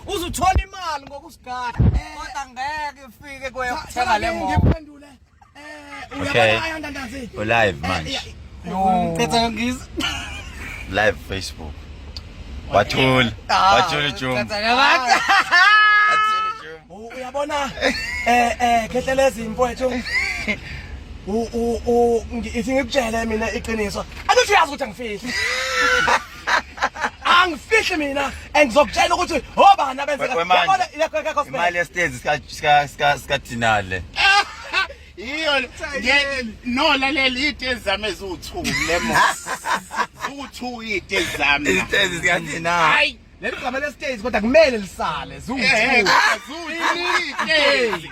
uzuthola imali ngokusigada kodwa ngeke ifike kuye kuthenga le moto ngiphendule eh uyabalaya ndandazi ulive manje no qetha ngizwe live facebook wathula wathula jumbo uyabona eh eh khehlelezi mfowethu u u u ithi ngikutshele mina iqiniso angithi uyazi ukuthi angifihli angifihle mina and ngizokutshela ukuthi obani abenzeka imali yesitezi sikadinale yiyo no lalela iy'tezi zami eziwu-two le mo ziwu-two iy'tezi zami izitezi sikadinale leli gama lesitezi kodwa kumele lisale ziwu-two eh, eh,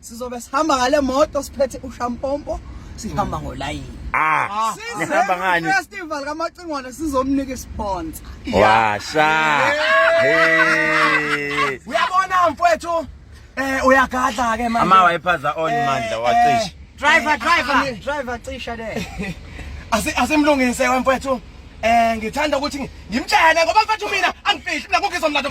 sizobe sihamba ngale moto siphethe ushampompo sihamba hmm. ngolayini ah, ah. nihamba ngani festival kamacingwane sizomnika isponsa washa uyabona mfowethu eh uyagadla ke manje ama wayiphaza on eh, mandla wacisha eh, driver eh, driver driver cisha le asimlungise wemfowethu eh ngithanda ukuthi ngimtshele ngoba mfethu mina angifihli mina kukho izomlando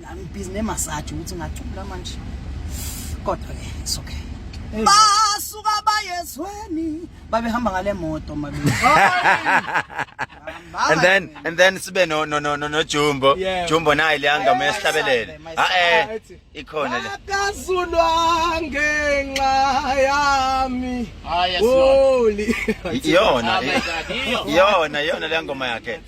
Nami busy ne massage ukuthi ngacula manje. Kodwa ke it's okay. Basuka bayezweni babehamba ngale moto mabili. and then and then sibe no no no no, no jumbo Yeah. jumbo naye liyanga Yeah, mesihlabelele my son, my son. ah eh ikhona le akazulwa ngenxa yami Ah, yes, Lord. holy iyona Oh my God, iyo. iyona iyona leyangoma yakhe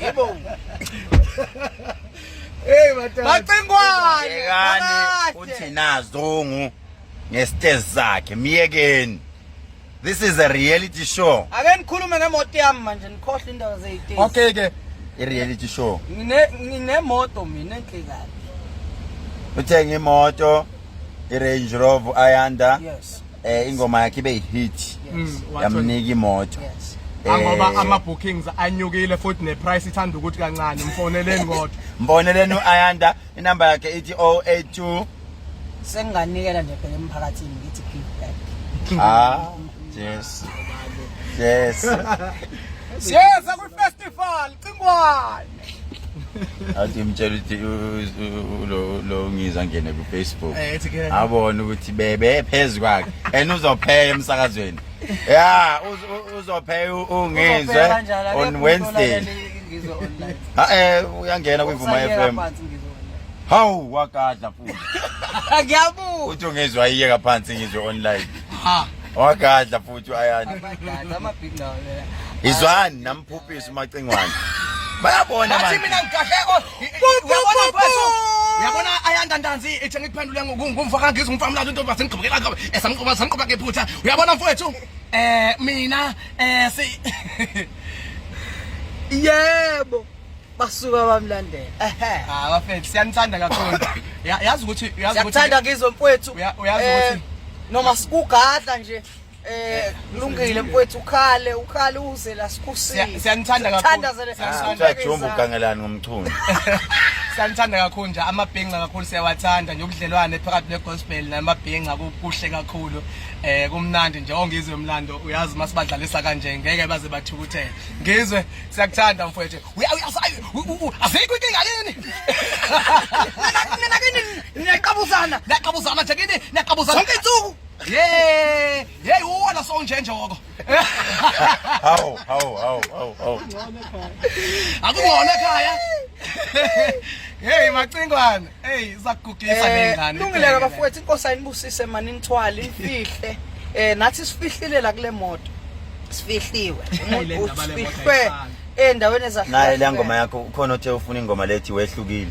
Yebo. Hey batata. Bacingwane. Yekani uthi nazungu ngestage sakhe myekeni. This is a reality show. Ake nikhulume ngemoto yami manje nikhohle indaba zeyiteam. Okay ke. I reality show. Ngine nginemoto mina enhlekani. Uthenge imoto i Range Rover Ayanda. Yes. eh ingoma yakhe ibe hit mm, yamnika imoto yes ah, ngoba eh. ama bookings anyukile futhi ne price ithanda ukuthi kancane mfoneleni kodwa mfoneleni uAyanda inamba yakhe ithi 082 senginganikela nje phela emphakathini ngithi give back ah yes yes yes akwi festival cingwayo athi mtshela ukuthi lo ngiza ngene kufacebook eh, abone ukuthi bebe phezu kwakhe and uzopheya emsakazweni ya uzopheya ungizwe on wednesday ha-e eh, uyangena kwivuma f m hawu wagadla futhi ngiyabuka uthi ungizwa iyeka phansi ngizwe online wagadla futhi ayani izwani Bhubhisa umacingwane. Bayabona manje. Bathi mina ngigahle o. Uyabona mfethu. Uyabona ayanda ntanzi ethi ngikuphendule ngumfa kangizi umfa mlazi into base ngigqibekela ngoba esamqoba samqoba ngephutha. Uyabona mfethu? Eh mina eh si Yebo. Basuka bamlandela. Ehhe. Ah bafethu siyanithanda kakhulu. Yazi ukuthi yazi ukuthi. Siyathanda ngizwe mfethu. Uyazi ukuthi eh, noma sikugadla nje. Eh kulungile mfowethu ukhale ukhale uze la sikusile. Siyanithanda kakhulu. Siyanithanda jombo ugangelani ngomchunu. Siyanithanda kakhulu nje amabhenga kakhulu siyawathanda nje ubudlelwane phakathi ne gospel namabhenga kuhle kakhulu. Eh kumnandi nje ongizwe umlando uyazi masibadlalisa kanje ngeke baze bathukuthele. Ngizwe siyakuthanda mfowethu. Asikho inkinga yini? Nina kini niyaqabuzana. Niyaqabuzana nje kini niyaqabuzana. Sonke insuku Hey, hey uwona sonjenjoko. Hawu, hawu, hawu, hawu, hawu. Akungona ekhaya. Hey macingwane. Hey zakugugisa nengane. Lungileka bafowethu inkosi ayinibusise mani nithwali imfihle. Eh nathi sifihlile la kule moto. Sifihliwe. Umuntu ufihlwe endaweni ezahlukene. Naye le ngoma yakho ukhona othe ufuna ingoma lethi wehlukile.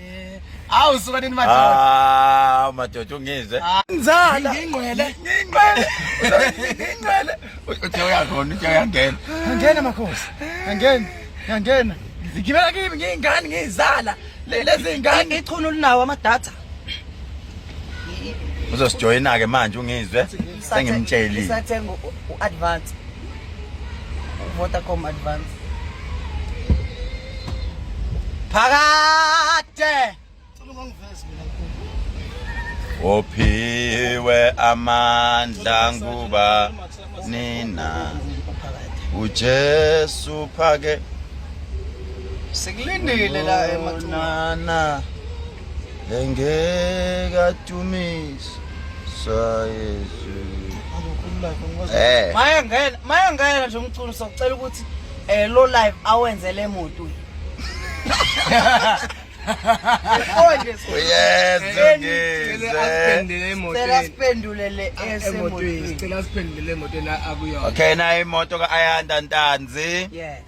Awu suka nini madoda. Ah madoda ungizwe. Ah, Nzala. Ngingqwele. Ngingqwele. Ngingqwele. Uthe uyakhona uthe uyangena. Angena makhosi. Angena. Angena. Ngigibela kimi ngiyingane ngiyizala. Lezi ingane ichunu linawo ama data. Uzosijoyina ke manje ungizwe. sengimtshelile sathenga u-advance vodacom advance phakade ophiwe amandla nguba nina ujesu phake sikulindile la emathunana engeke adumise sayezu eh maya ngena maya ngena nje umculo socela ukuthi eh lo live awenze le moto Konje uyeza ngize Cela siphendule le esemotweni Cela siphendule le moto na akuyona Okay na imoto ka Ayanda Ntanzi Yeah